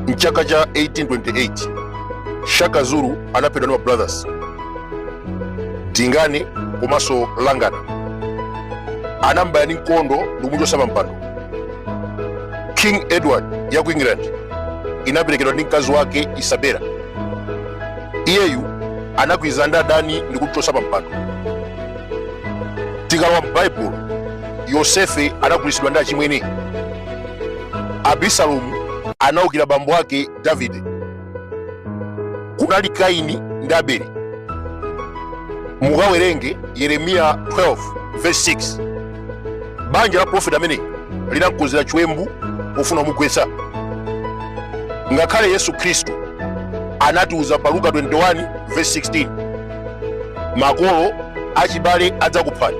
mchaka cha 1828 shaka zulu anaphedwa ndi ma brothers dingane komanso mhlangana anambaya ndi mkondo ndikumuchotsa pa mpando king edward ya ku england inaperekedwa ndi mkazi wake isabella iyeyu anagwirizana ndi adani ndikumuchotsa pa mpando tikalowa m'baibulo yosefe anagulitsidwa ndi achimwene abisalomu anaukira bambo ake davide kunali kaini ndi abeli mukawerenge yeremiya 12 verse 6 banja la profeti amene linamkonzera chiwembu pofuna kumugwetsa ngakhale yesu khristu anatiuza pa luka 21 verse 16 makolo achibale adzakuphani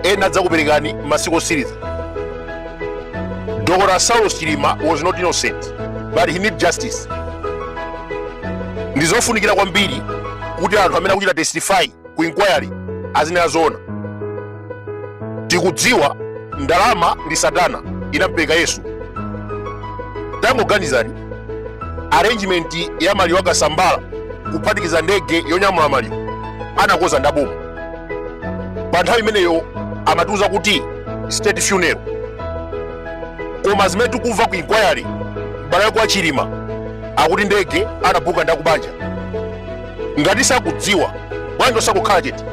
ena adzakuperekani m'masiku osiriza dr saulos chilima was not innocent but he need justice ndizofunikira kwambiri kuti anthu amene akuchita testify ku inquiry azinena zoona tikudziwa ndalama ndi satana inampereka yesu tangoganizani arrangement ya maliro a kasambara kuphatikiza ndege yonyamula maliro anakoza ndaboma pa nthawi imeneyo amatiuza kuti state funeral koma zimene tikumva ku inquiry abale akwa chilima akuti ndege anabuka ndakubanja ngati sakudziwa bwanji osangokhala chete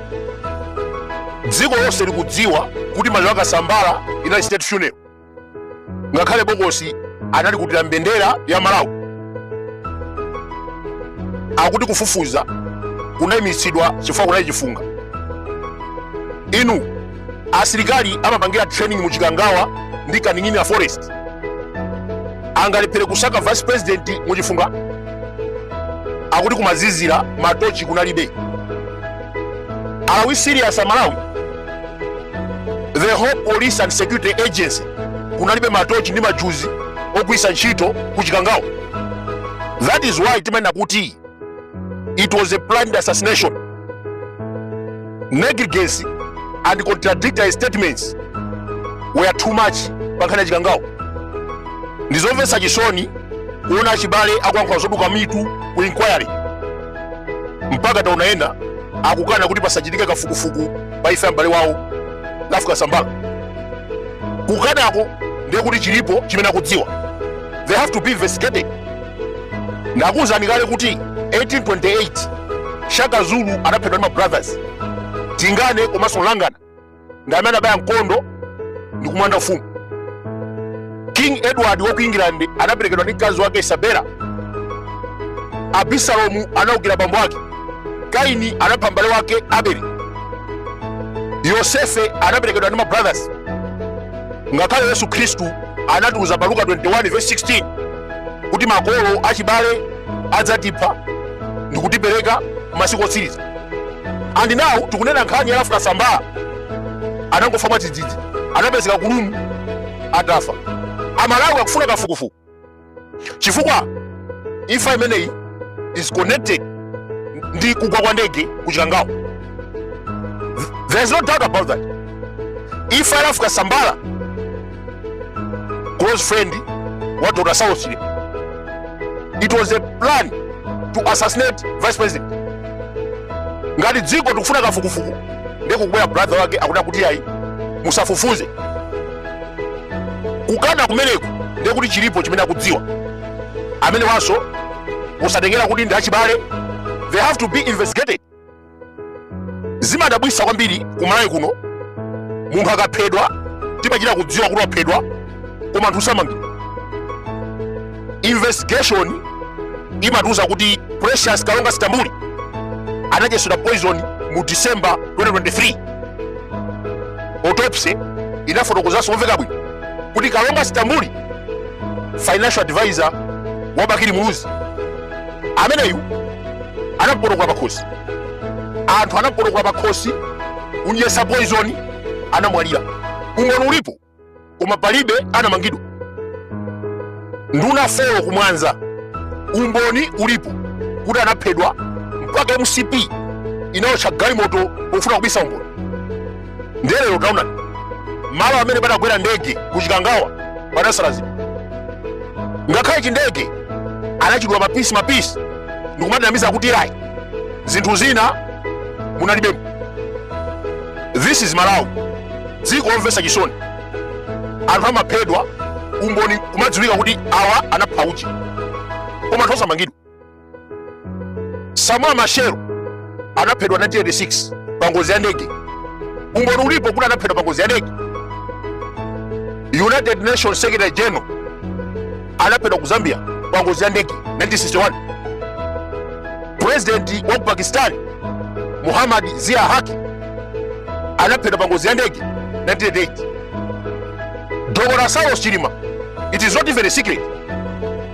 dziko lonse likudziwa kuti maliro a kasambara inali state funeral ngakhale bokosi analikutira mbendera ya malawi akuti kufufuza kunayimitsidwa chifukwa kunali chifunga inu asilikali amapangira training mu chikangawa ndi kaning'ina forest angalephere kusaka vice president mu chifunga akuti kumazizira matochi kunalibe Are we serious Malawi? The whole police and security agency kunalibe matochi ndi majuzi ogwiritsa ntchito ku Chikangawa. That is why timanena kuti it was a planned assassination. Negligence and contradictory statements were too much pankhani ya Chikangawa. Ndizomvetsa chisoni kuona achibale akuyankhula zoduka mutu ku inquiry. mpaka taona ena akukana kuti pasachitike kafukufuku pa imfa ya m'bale wawo ralph kasambara kukanako ndiye kuti chilipo chimene akudziwa they have to be investigated ndakuwuzani kale kuti 1828 shaka zulu anaphedwa ndi mabrothers dingane komanso mhlangana ndi amene anabaya mkondo ndi kulanda ufumu king edward wa ku england anaperekedwa ndi mkazi wake isabela abisalomu anaukira bambo wake kaini anapha mbale wake abeli yosefe anaperekedwa ndi mabrothers ngakhale yesu khristu anatiuza pa luka 21 verse 16 kuti makolo achibale adzatipha ndikutipereka masiku otsiriza and now tikunena nkhani ya Ralph Kasambara anangofa mwadzidzidzi anapezeka kulumu atafa amalawi akufuna kafukufuku chifukwa imfa imeneyi is connected ndi kugwa kwa ndege ku chikangawa there is no doubt about that imfa ya Ralph Kasambara close friend wa dr saulos chilima it was a plan to assassinate vice president ngati dziko tikufuna kafukufuku ndiye kubwera brother wake akuti kuti ayi musafufuze kukana kumeneku ndiye kuti chilipo chimene akudziwa amenewanso osatengera kuti ndi achibale they have to be investigated zimandabwitsa kwambiri kumalawi kuno munthu akaphedwa timachita kudziwa kuti waphedwa koma anthu samangidwa investigation imatiuza kuti precious kalonga stambuli anadyetsedwa poison mu december 2003 autopsy inafotokozanso momveka bwino kuti kalonga stambuli financial advisor wa bakili muluzi ameneyu anapotokola pakhosi anthu anampotokola pakhosi kumdyetsa poizoni anamwalira umboni ulipo koma palibe anamangidwa nduna folo ku mwanza umboni ulipo kuti anaphedwa mpaka mcp inayotcha galimoto pofuna kubisa umboni ndiye lero taonani malo amene panagwera ndege ku chikangawa panasalazidwa ngakhale chindege anachidula mapisi mapisi ndikumatinamiza kuti ayi zinthu zina munalibemo this is malawi dziko lomvetsa chisoni anthu amaphedwa umboni kumadziwika kuti awa anapha uje koma anthu osamangidwa Samora Machel anaphedwa 1986 pa ngozi ya ndege. Umboni ulipo kuti anaphedwa pa ngozi ya ndege. United Nations Secretary General anaphedwa ku Zambia pa ngozi ya ndege 1961. President wa ku Pakistan Muhammad Zia Haki anaphedwa pa ngozi ya ndege 1988. Dr. Saulos Chilima, it is not even a secret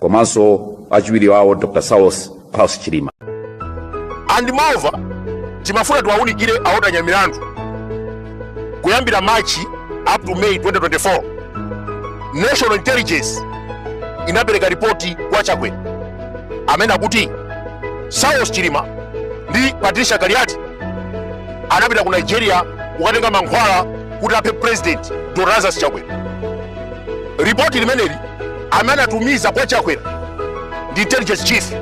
komanso achiwiri wawo dr saulos klaus chilima and moreover timafuna tiwaunikire a Walter Nyamilandu kuyambira march up to may 2024 national intelligence inapereka ripoti kwa chakwera amene akuti saulos chilima ndi patricia kaliati anapita ku nigeria kukatenga mankhwala kuti aphe president dr lazarus chakwera ripoti limeneli amene anatumiza kwa chakwera ndi intelligence chief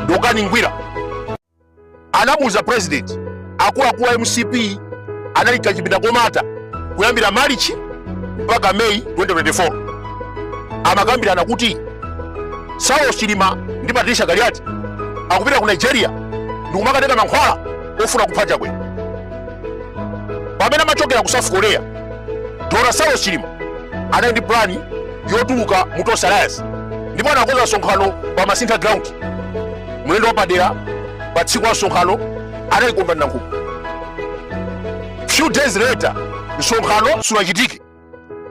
dokani ngwira anamuuza president akuluakulu a mcp anali kachipinda komata kuyambira marichi mpaka meyi 2024 amakambirana kuti saulos chilima ndi patricia kaliati akupita ku nigeria ndikumakatenga mankhwala ofuna kupha chakwera pamene amachokera ku south korea dr saulos chilima anali ndi pulani yotuluka mu tonse alliance ndipo anakonza msonkhano pa masintha ground mlendo wapadera pa tsiku la msonkhano anali kondwani nankhumwa few days later msonkhano sunachitike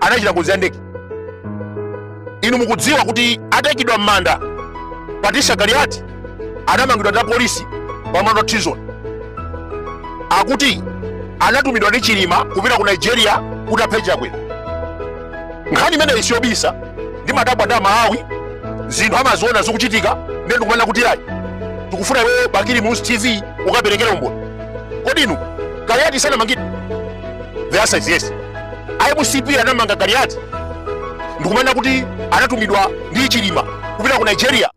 anachita ngozi ya ndege inu mukudziwa kuti ataikidwa m'manda patricia kaliati anamangidwa ndi apolisi pa mlandu wa treason akuti anatumidwa ndi chilima kupita ku nigeria kuti aphe chakwera nkhani imeneyi siyobisa ndimadabwa ndi amalawi zinthu amaziona zikuchitika ndiye ndikumanena kuti ayi tikufuna iweyo bakili muluzi tv ukaperekere umboni kodi inu kaliati sanamangidwe the answer is yes a mcp anamanga kaliati ndikumanena kuti anatumidwa ndi chilima kupita ku nigeria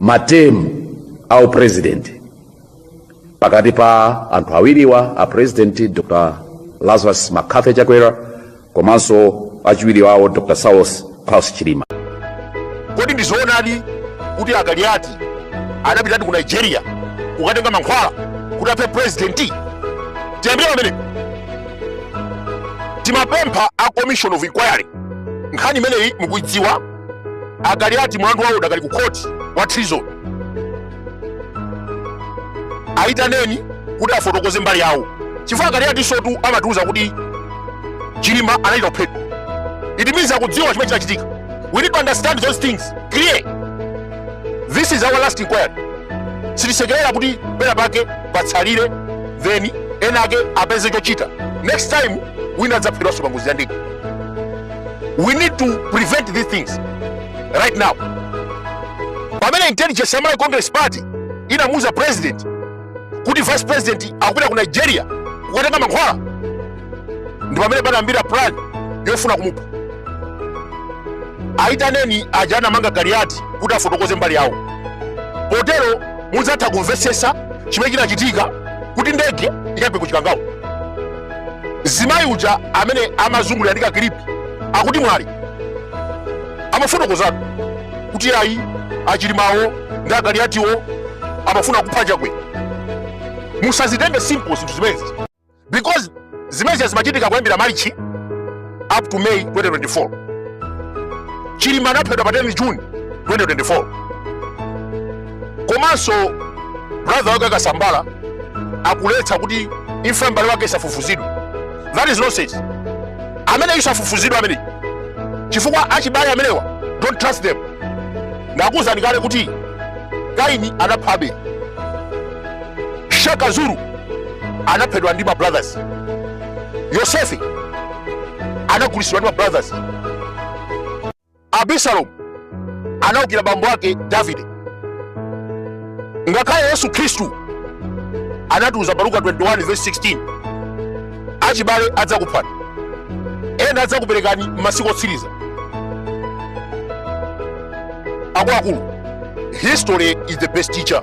matemu a upulezidenti pakati pa anthu awiriwa a president dr lazarus mccarthy chakwera komanso achiwiri wawo dr saulos klaus chilima kodi ndi zoonadi kuti a kaliati anapitadi ku nigeria kukatenga mankhwala kuti aphe purezidenti tiyambire pamene timapempha a commission of inquiry nkhani imeneyi mukuidziwa A Kaliati mlandu wawo udakali ku khoti wa treason. Ayitaneni kuti afotokoze mbali yawo chifukwa a Kaliati sotu amatiuza kuti Chilima anachita kuphedwa. It means akudziwa chimene chinachitika. We need to understand those things clear. This is our last inquiry. Sitisekerera kuti pena pake patsalire then enaake apeze chochita. Next time wina adzaphedwanso pa ngozi ya ndege. we need to prevent these things right now pamene intelligence ya malawi congress party inamuuza president kuti vice president akupita ku nigeria kukatenga mankhwala ndi pamene panayambira plan yofuna kumupha ayitaneni aja anamanga kaliati kuti afotokoze mbali yawo potero mudzatha kumvetsetsa chimene chinachitika kuti ndege ikagwe ku chikangawa zimayi uja amene amazungulira ndi kakilipi akuti mwali amafotokozatu kuti ayi achilimawo ndi akaliyatiwo amafuna kupha chakwera musazitenge simple zinthu zimenezi because zimenezi zimachitika kuyambira march up to May 2024. Chilima anaphedwa pa 10 June 2024. Komanso brother wake akasambala akuletsa kuti imfa ya m'bale wake isafufuzidwe. That is nonsense. Amene isafufuzidwe amene chifukwa achibale amenewa don't trust them. Ndakuwuzani kale kuti Kaini anapha Abeli. Shaka Zulu anaphedwa ndi ma brothers. yosefe anagulitsidwa ndi ma brothers abisalomu anaukira bambo ake davide ngakhale yesu khristu anatiuza pa luka 21 verse 16 achibale adzakuphani ena adzakuperekani m'masiku otsiriza akuluakulu history is the best teacher